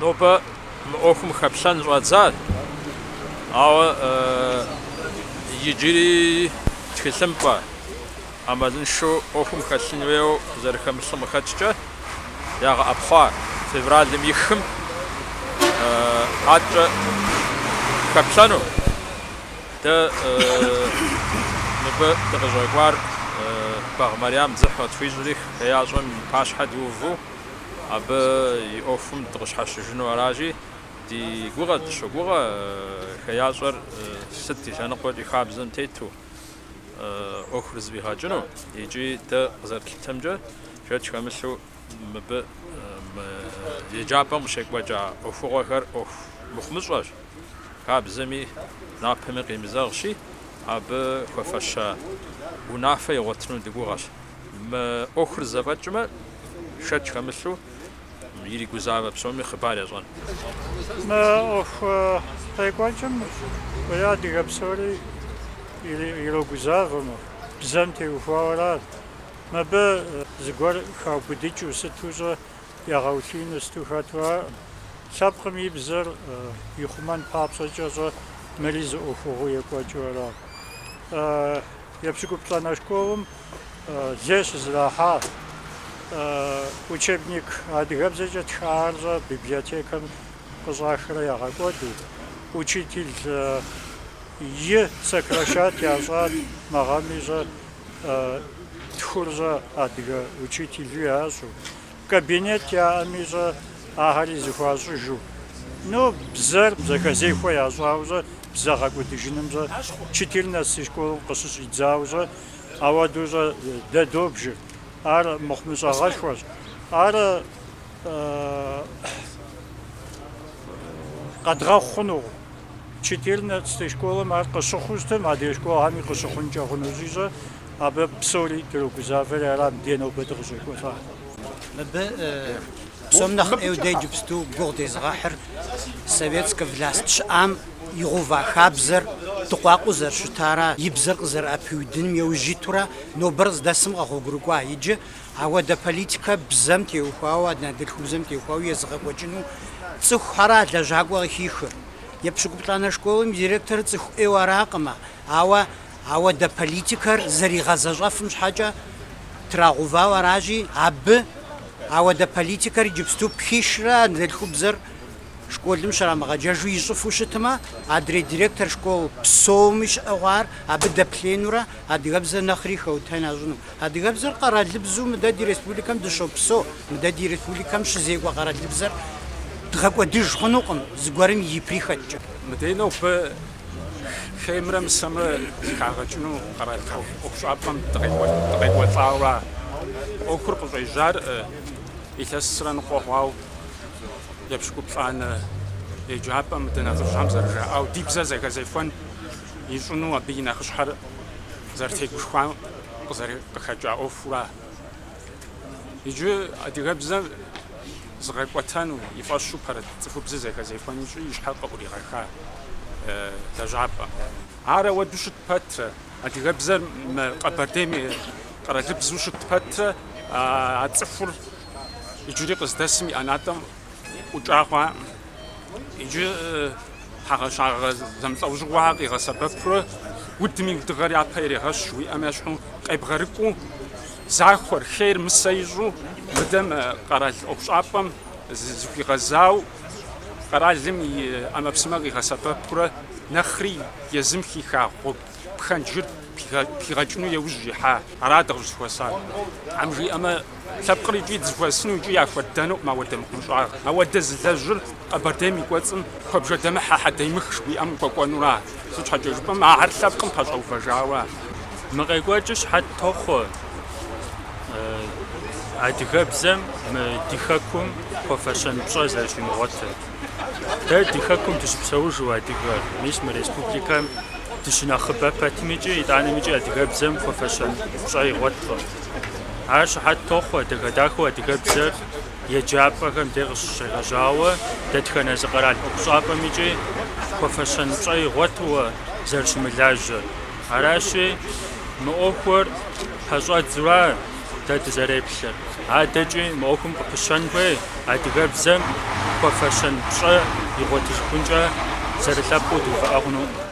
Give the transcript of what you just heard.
Нобэ мы ӏуэхум хэплъэн щӏадзащ, ауэ иджыри тхылъымпӏэ ӏэмалыншэу ӏуэхум хэлъын хуейуэ зэрыхэмылъым къыхэкӏкӏэ ягъэӏэпхъуа февралым и хым адэкӏэ хэплъэну. Дэ мыбы дыкъыщӏэкӏуар Багъ Марьям дзыхь къытхуищӏри, хеящӏэм и пащхьэ диуву. Абы и ӏуэхум дыкъыщхьэщыжыну аращи, ди гугъэ дыщогугъэ хеящӏэр сыт и лъэныкъуэкӏи хабзэм тету ӏуэхур зэфӏигъэкӏыну икӏи дэ къызэрытлъытэмкӏэ шэч хэмылъу мыбы мы еджапӏэм къыщекӏуэкӏа ӏуэхугъуэхэр ӏуэху мыхъумыщӏэщ, хабзэми напэми къемызэгъщи, абы хуэфэща унафэ игъуэтыну ди гугъэщ. Мы ӏуэхур зэфӏэкӏмэ. Шэч хэмылъу иригузавэ псоми хъыбар ящӏэн. Мы ӏуэху къекӏуэкӏым уеи адыгэ псори ирогузавэмэ, бзэм теухуауэрэ ар. Мыбы зыгуэр хаубыдыкӏыу сыту щӏэ ягъэулъиину сыту хэту араӏым. Лъэпкъым и бзэр ихъумэн папщӏэкӏэ щӏэ мыри зы ӏуэхугъуэу екӏуэкӏыу арат. Епщыкӏуплӏанэ школым Лей щызэрахьа учебник адыгэбзэкӏэ тхахэр щӏэ библиотекэм къыщӏахрэ ягъэкӏуэду, учители сокращать ящӏат, мы гъэми щӏэ тхур щӏэ адыгэ учителу ящӏу, кабинет яӏэми щӏэ ахэри зыхуащӏыжу. Ну, бзэр зэхэзехуэ ящӏауэ щӏэ, бзэ гъэкӏуэдыжыным щӏэ, четырнадцатэ школым къыщыщӏидзауэ щӏэ, Ауэду щӏэ дэ добжыр, ар мыхъумыщӏэгъэшхуэщ. Ар къэдгъэхъу хъунукъым. Четырнадцатэ школым ар къыщыхъуу щытым, адрей школхэми къыщыхъункӏэ хъунущи щӏэ, абы псори дрогузавэри арат, мыдей нобэ дыкъыщӏекӏуэлӏар. Мыбы Псом нэхъ ӏейуэ дэ иджыпсту гугъу дезыгъэхьыр советскэ власть щыӏам игъэува хабзэр дыкъуакъуэу зэрыщытара, и бзэр къызэрыӏэпиудыным еужь итурэ нобэр здэсым къэгъуэгурыкӏуа иджы? Ауэдэ политикэ бзэм теухуауэ, анэдэлъхубзэм теухуауэ езыгъэкӏуэкӏыну цӏыхухьэра лэжьакӏуэ къыхихыр? Епщыкӏуплӏанэ школым и директорыр цӏыху ӏейуэ аракъымэ, ауэ Ауэдэ политикэр зэригъэзэщӏэфым щхьэкӏэ трагъэувауэ аращи, абы, ауэдэ политикэр иджыпсту пхишрэ анэдэлъхубзэр школым щрамыгъэджэжу ищӏыфу щытмэ, адрей директор школ псоми щыӏэ хъуар абы дэплъенурэ адыгэбзэр нэхъри хэутэн ящӏыну. Адыгэбзэр къэралыбзу мыдэ ди республикэм дыщопсо, мыдэ ди республикэм щызекӏуэ къэралыбзэр дгъэкӏуэдыж хъунукъым, зыгуэрым и прихотькӏэ. Мыдей нобэ Хеймрэ мысэмрэ зыхагъэкӏыну къэрал ӏуэхущӏапӏэм дыкъекӏуэлӏауэ ӏуэхур къыщӏежьар илъэсрэ ныкъуэ хъуау епщыкӏуплӏанэ еджапӏэм мы ди нэхъыжьхэм зэрыжаӏау ди бзэр зэхэзехуэн ищӏыну абы и нэхъыщхьэр зэрытегушхуам къыхэкӏа ӏуэхура. Иджы адыгэбзэр зыгъэкӏуэтэну и фӏэщу пэрыт цӏыхубзыр зэхэзехуэн ищӏи и щхьэр къыӏуригъэха лэжьапӏэм. Ар ауэду щыт пэтрэ, адыгэбзэр мы Къэбэрдейм и къэралыбзу щыт пэтрэ а цӏыхур иджыри къыздэсым и ӏэнатӏэм ӏукӏа хъуакъым. Иджы хьэгъэщагъэ зэмылӏэужьыгъуэхэр къигъэсэбэпурэ удым и удыгъэр япэ ирегъэщ жыхуиӏэм ещхьу къебгъэрыкӏуэу. Захуэр, хейр мысэ ищӏу, мыдэм къэрал ӏуэхущӏапӏэм зыхуигъэзау, къэралым и ӏэмэпсымэ къигъэсэбэпурэ нэхъри езым хиха гъуэгу пхэнджыр пхигъэкӏыну еужь ихьа. Ара дыкъыщӏызыхуэсар. Тхьэм жиӏэмэ, лъэпкъыр икӏи дызыхуэсыну, икӏи яхуэдэнукъым ауэдэ мыхъумыщӏагъэр. Ауэдэ зылэжьыр Къэбэрдейм и кӏуэцӏым куэбжэдэмыхьэ, хьэдэймых жыхуиӏэм хуэкӏуэнура. Сыт щхьэкӏэ жыпӏэмэ, ахэр лъэпкъым пэщӏэувэжауэ. Мы къекӏуэкӏыр щыхьэт тохъуэ адыгэбзэм мы ди хэкум хуэфэщэн пщӏэ зэрыщимыгъуэтыр. Дэ ди хэкум дыщыпсэужу адыгэр, мис мы республикэм дыщынэхъыбэ пэтым икӏи итӏанэм икӏи адыгэбзэм хуэфэщэн пщӏэ игъуэткъым. Ар щыхьэт тохъуэ дахэ-дахэу адыгэбзэр. Еджапӏэхэм дей къыщыщегъэжьауэ дэтхэнэ зы къэрал ӏуэхущӏапӏэм икӏи хуэфэщэн пщӏэ игъуэтуэ зэрыщымылажьэр. Аращи, мы ӏуэхур пэщӏэдзура дэ дызэреплъыр. Адэкӏи мы ӏуэхум къыпыщэн хуей адыгэбзэм хуэфэщэн пщӏэ игъуэтыжыхункӏэ зэрылъэпкъыу дувыӏэ хъунукъым.